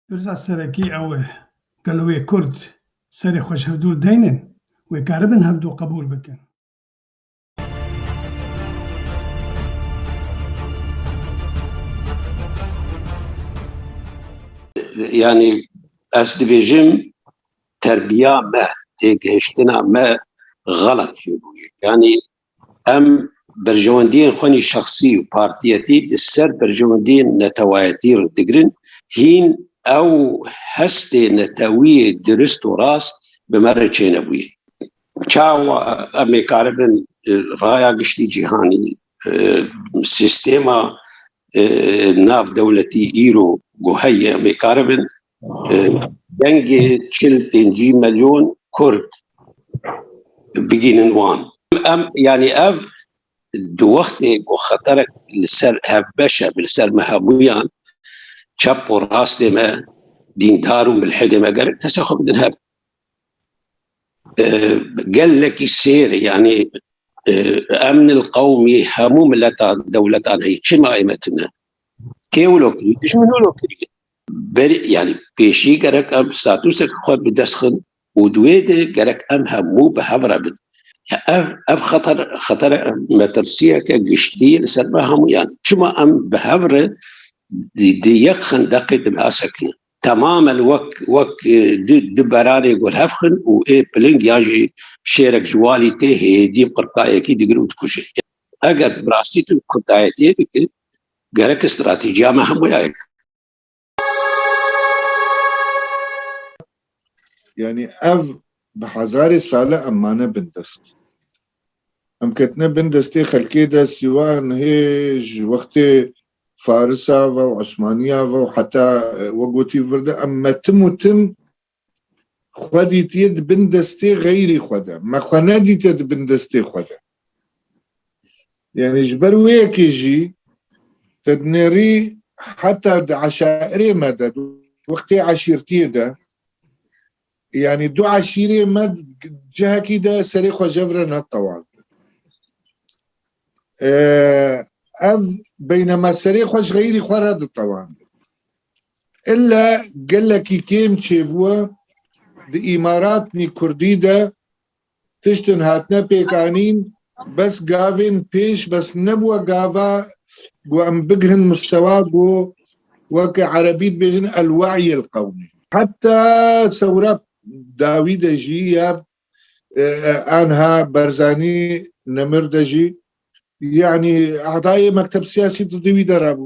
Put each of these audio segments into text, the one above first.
Pirsa serekî ew e, gelo wê kurd serê xwe ji hevdû deynin, wê keribin hevdû qebûl bikin? Yanî ez dibêjim terbiya me têgihiştina me xelat bûye. Yanî em berjewendiyên xwe nî şexsî û partiyetî di ser berjewendiyên netewayetî re digirin. Hîn ew hestê netewiyê dirust û rast bi me re çênebûye. Çawa em ê karibin raya giştî cîhanî, sîstêma navdewletî îro ku heye em ê karibin dengê çil pêncî milyon kurd bigihînin wan. Em yanî ev di wextê ku xeterek li ser hevbeş e, li ser me hemûyan çep û rastê me, dîndar û milhidê me gerek destê xwe bidin hev. gelekî sêr e yanî emnil qewmî hemû miletan dewletan heye çima ême tune kêwilo kirî dijminolo kirî berî yanî pêşî gerek em statusek xwe bi dest xin û di wê de gerek em hemû bi hev re bin ev ev xeter xetere metirsiyeke giştî li ser me hemûyan çima em bi hev re di yek xendeqê dinasekine Temamen wek wek di di beranê gul hevxin û ê piling yan jî şêrek ji walî tê hêdî qirtayekî digir û dikuje. Eger bi rastî tu qirtayetiyê dikî gereke stratîciya me hemû ya yek. Yani ev bi hezarê sale em mane bin dest. Em ketine bin destê xelkê de sîwan hê ji wextê Farisa ve û Osmaniya ve û heta wek gotî vir de em me tim û tim xwe dîtiye di bin destê xeyrî xwe de. Me xwe nedîtiye di bin destê xwe de. Yanî ji ber wê yekê jî te dinêrî heta di eşairê me de di wextê eşîrtiyê de Yanî du eşîrê me cihekî de serê xwe jev re netewan. Ev beyne me serê xwe ji xeyrî xwe re ditewan. İlle gelekî kêm çêbûye di îmaratnî kurdî de Tiştên hatine pêkanîn bes gavên pêş bes nebûe gava ku em bigihin mustewa ku weke erebî dibêjin el-we'y el-qewmî. Heta sewra dawî de jî ya anha Berzanî Nemir de jî yanî edayê mekteb siyasî di wî de re bû.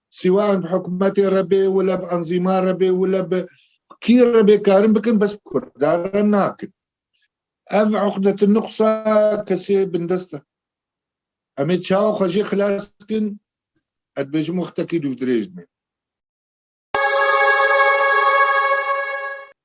Siwan bi hikûmetê re bê, wile bi enzîman re bê, wile bi kî re bê karin bikin bes bi kurdan re nakin. Ev uqdetun nuqsa kesê bindest e. Em ê çawa xwe jê xilas bikin, ez dibêjim wextekî dûvdirêj dimê.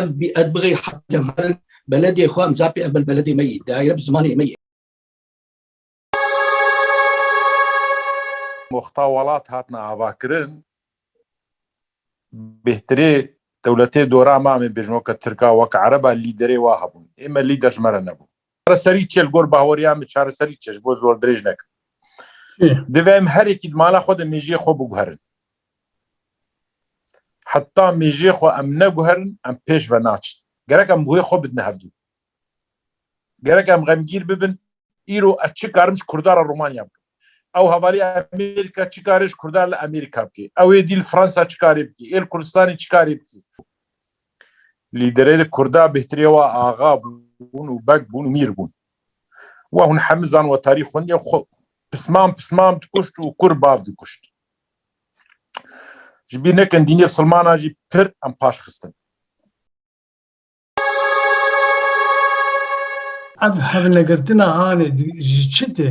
Ev bi ez bixê heqê me in, beledê xwe imza pê, ev bil beledê me yî, dayire bi zimanê me yê. Moxta welat hatine avakirin, bêhtirê dewletê dora me em ê bêjin weke tirk a, weke ereb a lîderê wa hebûn. Ê me lîder ji me re nebû. Çareserî çi ye? Li gor baweriya min çareserî çi ye? Ji bo zor dirêj nekim. Divê em herekî di mala xwe de mêjiyê xwe biguherin. Heta mêjiyê xwe em neguherin em pêş ve naçin. Gerek em bi wê xwe bidin hevdû. Gerek em xemgîr bibin îro ez çi karim ji Kurdan re Romanya bikim. Ew hevalî Amerîka çi karê ji Kurdan li Amerîka bikê. Ew ê dî li Fransa çi karê bikê. Ê li Kurdistanê çi karê bikê. Lîderê di Kurda bêhtirê wa axa bûn û beg bûn û mîr bûn. We hûn hemizan wetarî xweniye xwe pisman pisman dikuşt û kur bav dikuşt. Ji bîr nekin dînê silmanan jî pir em paş xistin. Ev hevnegirtina hanê ji çi tê?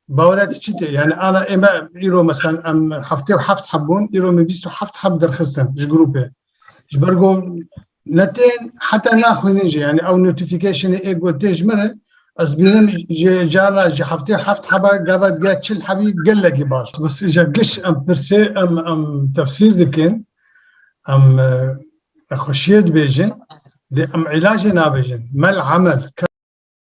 Bawera te çi tê? Yani ala ême îro meselen em heftê û heft heb bûn, îro min bîst û heft heb derxistin ji grûpê. Ji ber ku ne tên heta naxwînin jî yani ew notificationê ê ku tê ji min re ez bînim ji carna ji heftê û heft heba gava digiya çil hebî gelekî baş. Bes îja giş em pirsê em em tefsîr dikin em nexweşiyê dibêjin dê em îlacê nabêjin. Mel emel.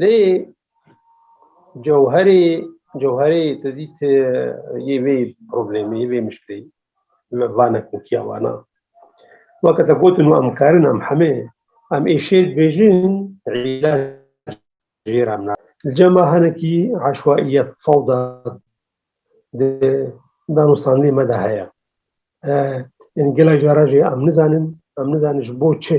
Lê cewherê cewherê tu dît yê vê problemê vê mişkilê me vane kokiya vana weke te gotin û em kerin em hemê em ê şêr dibêjin îlaj jêr em na li cema hinekî eşwaîyet fewda di danûstandê me de heye. Yanî gelek jara jî em nizanin em nizanin ji bo çi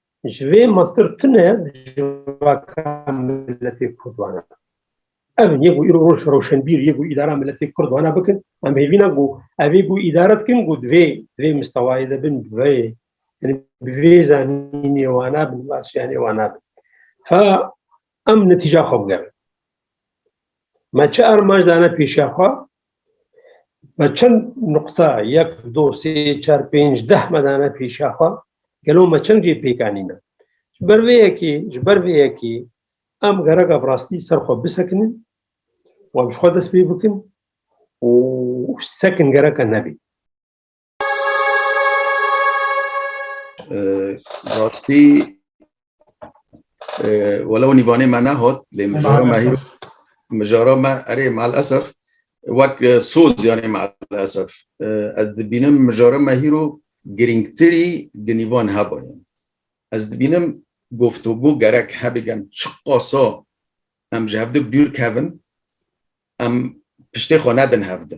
Ji vê mastir tune civaka miletê Kurd wana. Ev yê ku îro roj rewşenbîr yê ku îdara miletê Kurd wana bikin, em hêvîna ku ev ê ku îdare dikin ku divê di vê mistewayê de bin, bi vê bi vê zanînê wana bin, bi vê astiyanê wana bin. Fa Em netîja xwe bigerin. Me çi armanc dane pêşiya xwe? Me çend nuqta yek, do, sê, çar, pênc, deh me dane pêşiya xwe? Gelo me çend cê pêk anîne? Ji ber vê yekê, ji ber vê yekê em gereka bi rastî ser xwe bisekinin û em ji xwe dest pê bikin û sekin gereka nebê. Rastî welew nîvanê me nehot lê mijara me hîr mijara me erê mal esef wek soz yanê mal esef ez dibînim mijara me hîro girîngtirî di nîvan hebaye ez dibînim goftûgû gerek hebê gem çi qasa em ji hevdi dûr kevin em piştê xwe nedin hevdi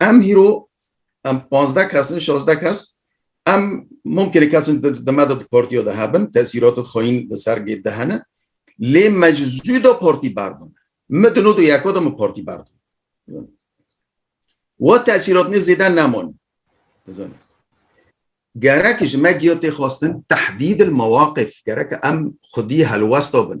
Em hîro em pazdeh kes in şazdeh kes em mumkinê kes in di me de di partiya de hebin tesîratê xweyîn li ser gê de hene lê me ji zû de partî berdin min di nod û yeka de min partî berdin we tesîrat min zêde neman gerek ji me giya tê xwestin tehdîd il mewaqif gerek em xwedî helwesta bin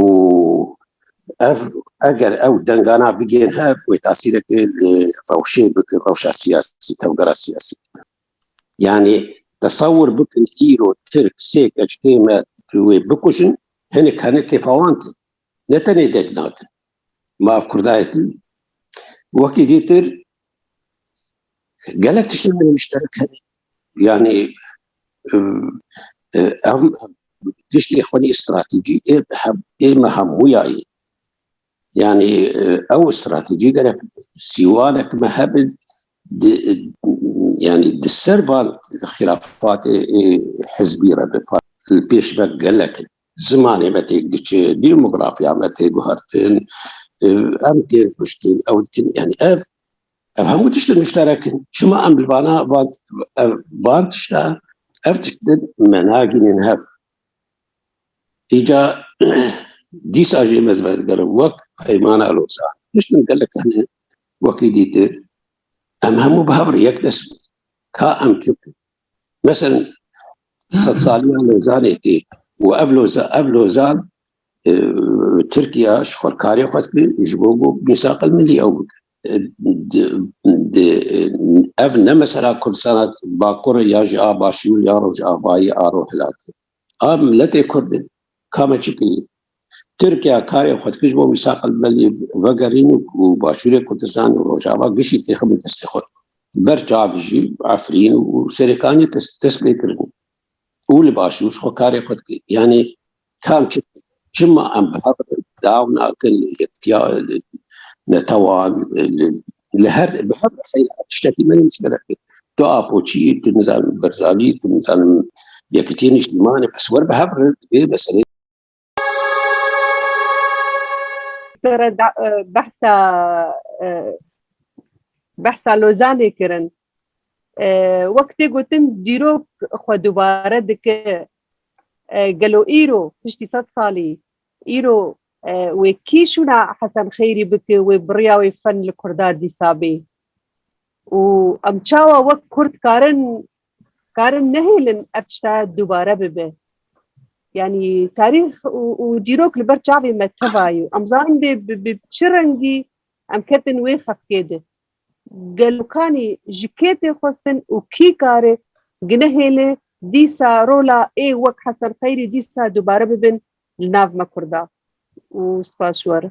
û ev eger ew dengana bigên hev wê tasîrekê li rewşê bikin rewşa siyasî tevgera siyasî bikin. Yanî tesewir bikin îro Tirk sê keçikê me tu wê bikujin hinek henekê fawan tê. Ne tenê deng nakin. Ma ev kurdayetî wekî dîtir gelek tiştên me muşterek hene. Yanî em tiştê xwe nê stratejî ê ê me hemûya ye. Yanî ew stratejî gerek sîwanek me hebin di yanî di ser van xîlafatê ê hizbî re bi li pêş ve gelek zimanê me têk diçe, demografya me tê guhertin, em tên kuştin, ew dikin yanî ev Ev hemû tişt müşterek in. Şima em li vana van van tişta ev tişt me nagînin hev. Îca dîsa jê me zivez gerin wek peymana lozan. Tiştin gelek hene wekî dîtir. Em hemû bi hev yek dest ka em kim. Mesela sed saliya lozanê tê û ev loza ev lozan e, Tirkiya ji xwekarê xwe dikir ji bo bo misaqil milî ew bikin. Ev ne mesela Kurdistana Bakur e ya jî a Başûr ya Rojavayî a Rojhilatê. A miletê Kurd e. Ka me çi bikî? Tirkiya karê xwedkiş bo mîsaq li belê vegerîn û Başûrê Kurdistan û Rojava gişî têxibin destê xwe. Ber çavê jî Efrîn û Serêkaniyê dest pê kirin. û li başûr xwe karê xwe dike. Yanî kam çi çima em bi hev re dew nakin li yektiya li netewan li li her bi hev re xeyr tiştekî me muşterek e. Tu Apoçî yî, tu nizanim Berzanî yî, tu nizanim Yekîtiyên Nîştîmanê bes wer bi hev re divê meseleyê Sere behsa behsa Lozanê kirin. Wek tê gotin dîrok xwe dubare dike gelo îro piştî sed salî îro wê kî şûna Hesen Xeyrî bike wê biriya wê fen li Kurda dîsa bê û em çawa wek Kurd karin Karin nehêlin ev tişta dubare bibe. Yani tarîx û dîrok li ber çavê me teva yo. Em zanin bê bi çi rengî em ketin wê xefkê de. Gelokanî ji kê tê xwestin û kî kare ginehêle dîsa rola ê wek Hesen Xeyrî dîsa dubare bibin li nav me Kurda. Û spas ji we re.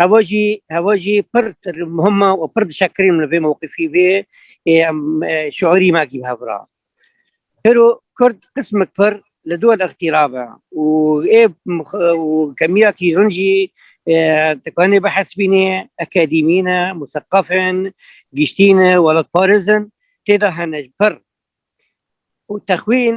Hewa jî hewa jî pir muhim e û pir dişekirin li vê mewqifî vê em şûrî me kî hev ra. Hêro Kurd qismek pir li dû ixtîra be û ê kemiya kî hûn jî dikanê bihesibînê akadîmî ne, museqef in, giştî ne, welatparêz in tê de hene pir û texwîn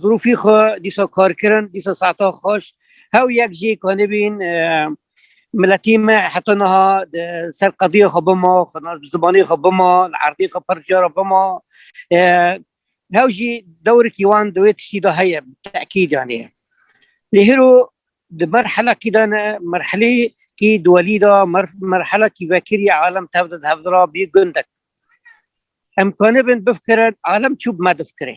Zirûfî xwe dîsa karkirin, dîsa saeta xweş hew yek jî kanibîn miletî me heta niha ser qediyê xwe bima zibanê xwe bima li erdê xwe pir cara bima hew jî dewrikî wan di wê tiştî de heye tekîd yanê lê hêro di merhelekî de ne merhelê kî di welî de merhelekî vekirî alem tev de di hev de ra bî gundek em kanibin bifikirin alem çû bi me difikirê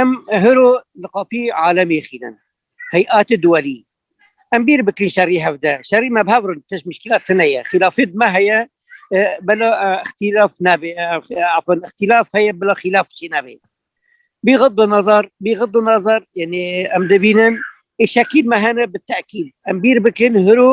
Em hiro li qapî alemê xînin. Heyati duwelî. Em bîr bikin şerî hevde. Şerî me bi hev rin tişt mîşkîla tune ye. Xîlafê di me heye bela îxtîlaf nebe. Afan îxtîlaf heye bila xîlaf çî nebe. Bî xidda nazar, bî xidda nazar yanî em dibînin ê şekîl me hene bi tekîl. Em bîr bikin hiro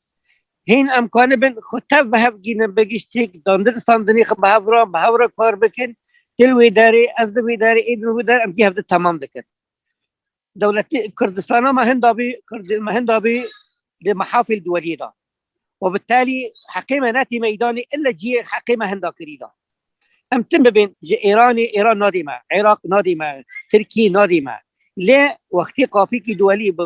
Hîn em kanibin xwe tev bi hev gînin bi giştîk dandin standinî xwe bi hevran bi hevra kar bikin dil wî derê ez di wî derê ê din wî der em jî hev di temam dikin. Dewletê Kurdistana me hinda bî Kurdê me hinda bî li mehafîl duweliyê da. We bi telî heqê me netî meydanê ille ciyê heqê me hinda kirî da. Em tim bibên ji Êranê Êran nadê me, Iraq nadê me, Tirkiyê nadê me. Lê wextê qapîkî duweliyê bi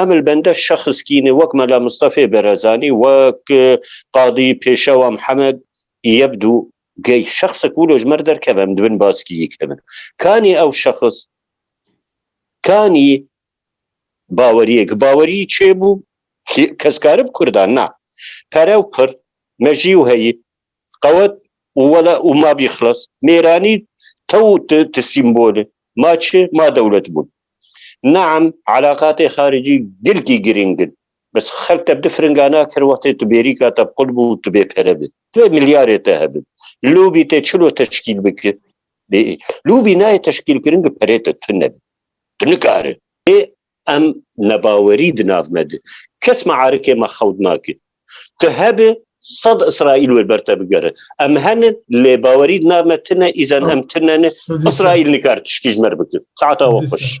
Em li benda şexskînê wek Mela Mistefê Berezanî, wek Qadî Pêşewa Mihemed Yebdû Gey şexsek wilo ji mer derkeve em dibin baskîyê kevin. Kanî ew şexs kanî baweriyê ki bawerî çê bû keskarib Kurdan na. Pere û pir, mejî û heyî Qewet û wele û ma bî xilas. Mêranî te û tu, tu sîmbol î. Ma çi? Ma dewlet bûn. Naem, eleqatên xaricî gilkî girîng in. Bes xelk te bi du firinga nakir wextê tu bêrîka te qul bû û tu bê pere bî. Divê milyarê te hebe. Lobî tê çilo teşkîl bike? Lobî nayê teşkîlkirin gi perê te tune be. Tu nikare. Ê Em nebawerî di nav me de. Kes mearikê me xewt nake. Tu hebe sed Îsraîl wê ber te bigere. Em henin lê bawerî di nav me tine îzen em tine ne. Îsraîl nikar tiştî ji me re bike. Saeta we xweş.